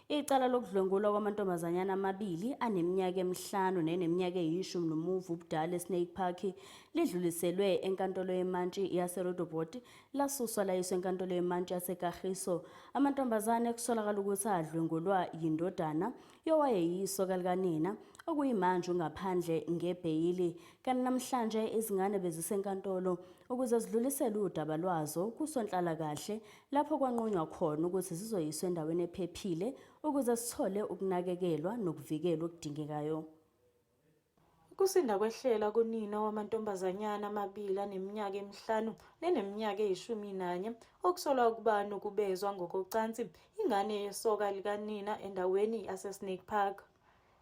Icala lokudlwengulwa kwamantombazanyana amabili aneminyaka emihlanu neneminyaka eyishumi nomuva ubudala eSnake Park lidluliselwe eNkantolo yeMantshi yaseRoodepoort lasuswa layiswa eNkantolo yeMantshi yaseKagiso. Amantombazane kusolakala ukuthi adlwengulwa yindodana yowayeyiso kalikanina okuyimanje ungaphandle ngebheyili. Kanti namhlanje izingane bezisenkantolo ukuze zidlulisele udaba lwazo kusonhlalakahle lapho kwanqunywa khona ukuthi zizoyiswa endaweni ephephile ukuze zithole ukunakekelwa nokuvikelwa okudingekayo. Ukusinda kwehlela kunina wamantombazanyana amabili aneminyaka emihlanu neneminyaka eyishumi nanye okusolwa ukuba nokubezwa ngokocansi ingane yesoka likanina endaweni yaseSnake Park.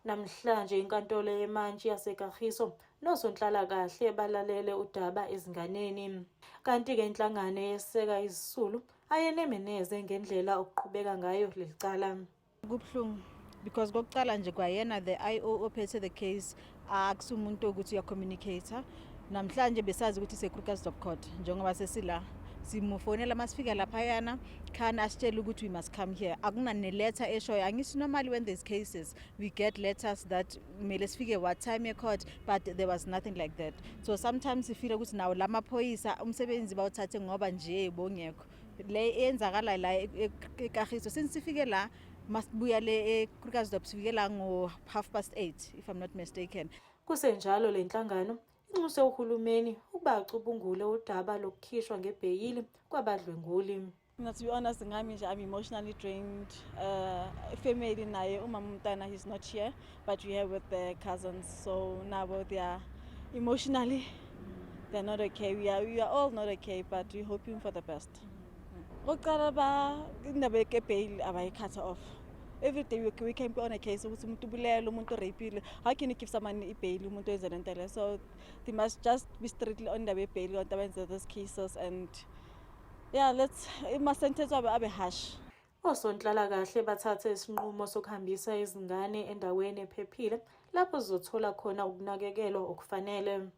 Namhlanje inkantolo yemantshi yaseKagiso nosonhlalakahle balalele udaba ezinganeni. Kanti-ke inhlangano eyeseka izisulu ayenemeneze ngendlela okuqhubeka ngayo leli cala. Kubuhlungu because kokucala nje kwayena the IO ophethe the case akusumuntu ukuthi uyacommunicator Namhlanje besazi ukuthi iseKrugersdorp Court njengoba sesila simufonela uma sifika laphayana khani asitshele ukuthi we must come here akunaneletha eshoyo angithi normally when there's cases we get letters that kumele sifike what time ye-court but there was nothing like that so sometimes sifile ukuthi nawo la maphoyisa umsebenzi bawuthathe ngoba nje bongekho le eyenzakalayo la e-, e-, ekahiso since sifike la masibuya le eKrugersdorp sifike la ngo half past 8 if i'm not mistaken Kusenjalo le nhlangano inxuse uhulumeni ukuba acubungule udaba lokukhishwa ngebheyili kwabadlwenguli. Mina to be honest ngami nje I'm emotionally drained. Uh, family naye umama umntana he's not here but we have with the cousins so nabo they are emotionally they're not okay. We are, we are all not okay but we're hoping for the best. court oqala ba indaba ye bail abayikhatha off every day we, we can be on a case ukuthi umuntu ubulele umuntu urapile how can you give someone ibail umuntu wenze lento le so they must just be strictly on indaba yebail abantu abenze those cases and yeah let's ama-sentence abe abe harsh Osonhlalakahle bathathe isinqumo sokuhambisa izingane endaweni ephephile lapho zizothola khona ukunakekelwa okufanele.